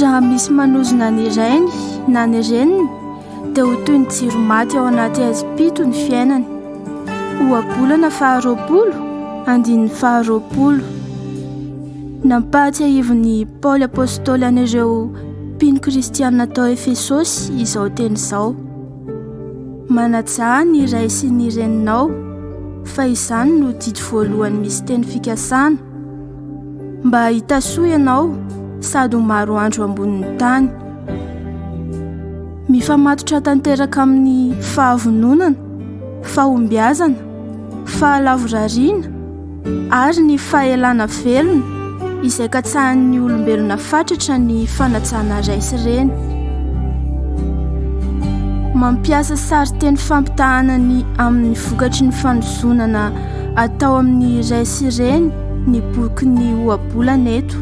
Raha misy manozona ny rainy na ny reniny dia ho toy ny jiro maty ao anaty haizim-pito ny fiainany. Ohabolana faharoapolo, andininy faharoapolo. Nampahatsiahivin'i Paoly Apôstôly an'ireo mpino kristianina tao Efesôsy izao teny izao. Manajà ny ray sy ny reninao fa izany no didy voalohany misy teny fikasana mba hahita soa ianao sady ho maro andro ambonin'ny tany. Mifamatotra tanteraka amin'ny fahavononana, fahombiazana, fahalavorariana, ary ny fahelana velona izay katsahan'ny olombelona fatratra ny fanajana ray sy reny. Mampiasa sarin-teny fampitahana ny amin'ny vokatry ny fanozonana atao amin'ny ray sy reny ny boky ny ohabolana eto.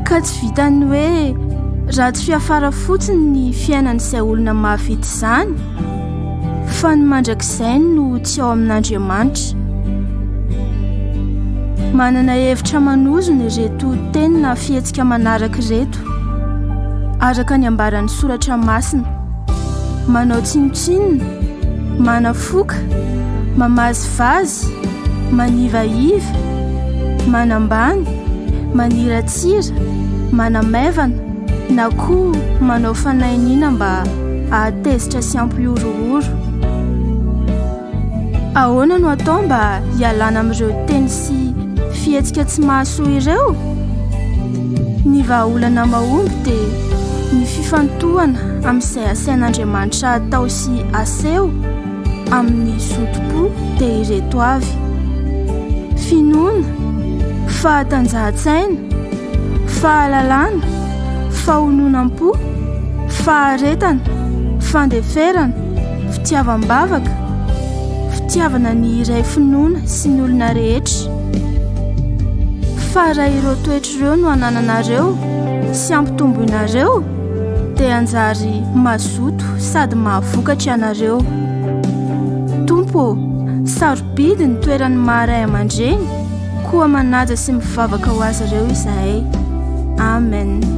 Ka tsy vitan'ny hoe ratsy fiafara fotsiny ny fiainan'izay olona mahavita izany, Fa ny mandrakizay no tsy ao amin'Andriamanitra. Manana hevitra manozona ireto teny na fihetsika manaraka ireto. Araka ny ambaran'ny soratra masina, manao tsinontsinona, manafoka, mamazivazy, manivahiva, manambany, maniratsira, manamaivana, na koa manao fanahiniana mba hahatezitra sy hampihorohoro. Ahoana no atao mba hialana amin'ireo teny sy fihetsika tsy mahasoa ireo? Ny vahaolana mahomby dia ny fifantohana amin'izay asain'Andriamanitra atao sy aseho. amin'ny zotom-po dia ireto avy, finoana, fahatanjahan-tsaina, fahalalana, fahononam-po, faharetana, fandeferana, fitiavam-bavaka, fitiavana ny iray finoana sy ny olona rehetra. Fa raha ireo toetra ireo no anananareo sy ampitomboinareo, dia hanjary mazoto sady mahavokatra ianareo. Tompo ô, sarobidy ny toeran'ny maharay aman-dreny, koa manaja sy mivavaka ho azy ireo izahay. Amen.